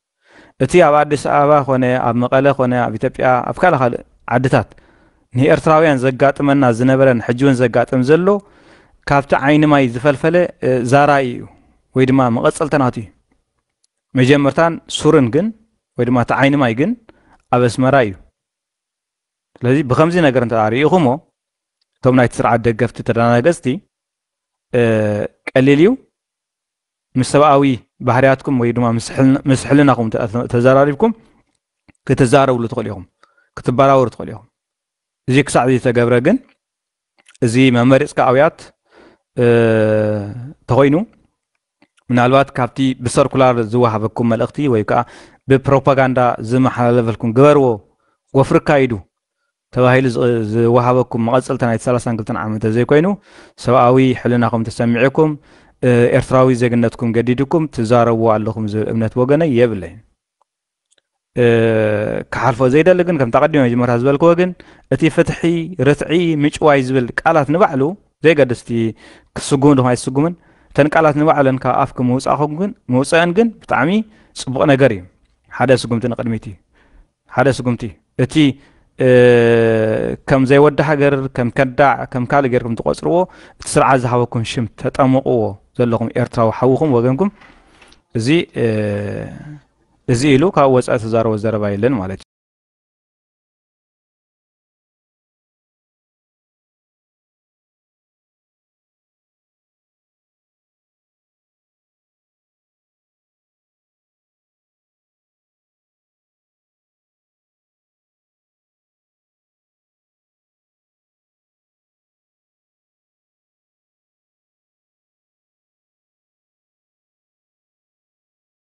እቲ ኣብ ኣዲስ ኣበባ ኮነ ኣብ መቐለ ኮነ ኣብ ኢትዮጵያ ኣብ ካልእ ካልእ ዓድታት ንኤርትራውያን ዘጋጥመና ዝነበረን ሕጂ እውን ዘጋጥም ዘሎ ካብቲ ዓይኒ ማይ ዝፈልፈለ ዛራኢ እዩ ወይ ድማ መቐጸልተናቱ እዩ። መጀመርታን ሱርን ግን ወይ ድማ እቲ ዓይኒ ማይ ግን ኣብ ኣስመራ እዩ። ስለዚ ብከምዚ ነገር እንተ ርኢኹሞ እቶም ናይቲ ስርዓት ደገፍቲ ተደናገጽቲ ቀሊል እዩ ምስ ሰብኣዊ ባህርያትኩም ወይ ድማ ምስ ሕልናኹም ተዘራሪብኩም ክትዛረብሉ ትኽእሉ ኢኹም ክትበራወሩ ትኽእሉ ኢኹም እዚ ክሳዕ ዝተገብረ ግን እዚ መመሪፅካ ኣውያት ተኾይኑ ምናልባት ካብቲ ብሰርኩላር ዝወሃበኩም መልእኽቲ ወይ ከዓ ብፕሮፓጋንዳ ዝመሓላለፈልኩም ግበርዎ ወፍሪ ካይዱ ተባሂሉ ዝወሃበኩም መቐፅልታ ናይቲ ሰላሳን ክልተን ዓመት ተዘይኮይኑ ሰብኣዊ ሕልናኹም ተሰሚዑኩም ኤርትራዊ ዜግነትኩም ገዲድኩም ትዛረብዎ ኣለኹም ዝብል እምነት ወገነይ የብለይን። ክሓልፎ ዘይደሊ ግን ከምታ ቀዲመ መጀመርታ ዝበልክዎ ግን እቲ ፍትሒ ርትዒ ምጭዋይ ዝብል ቃላት ንባዕሉ ዘይገድስ እቲ ክስጉም ድማ ኣይስጉምን እተን ቃላት ንባዕለን ካብ ኣፍኪ ምውፃእኹም ግን ምውፅአን ግን ብጣዕሚ ፅቡቕ ነገር እዩ ሓደ ስጉምቲ ንቅድሚት እዩ ሓደ ስጉምቲ እቲ ከም ዘይወዲ ሃገር ከም ከዳዕ ከም ካልእ ጌርኩም ትቆፅርዎ እቲ ስርዓት ዝሃበኩም ሽም ተጠምቕዎ ዘለኹም ኤርትራዊ ሓውኹም ወገንኩም እዚ እዚ ኢሉ ካብ ወጻኢ ዝዛረቦ ዘረባ የለን ማለት እዩ።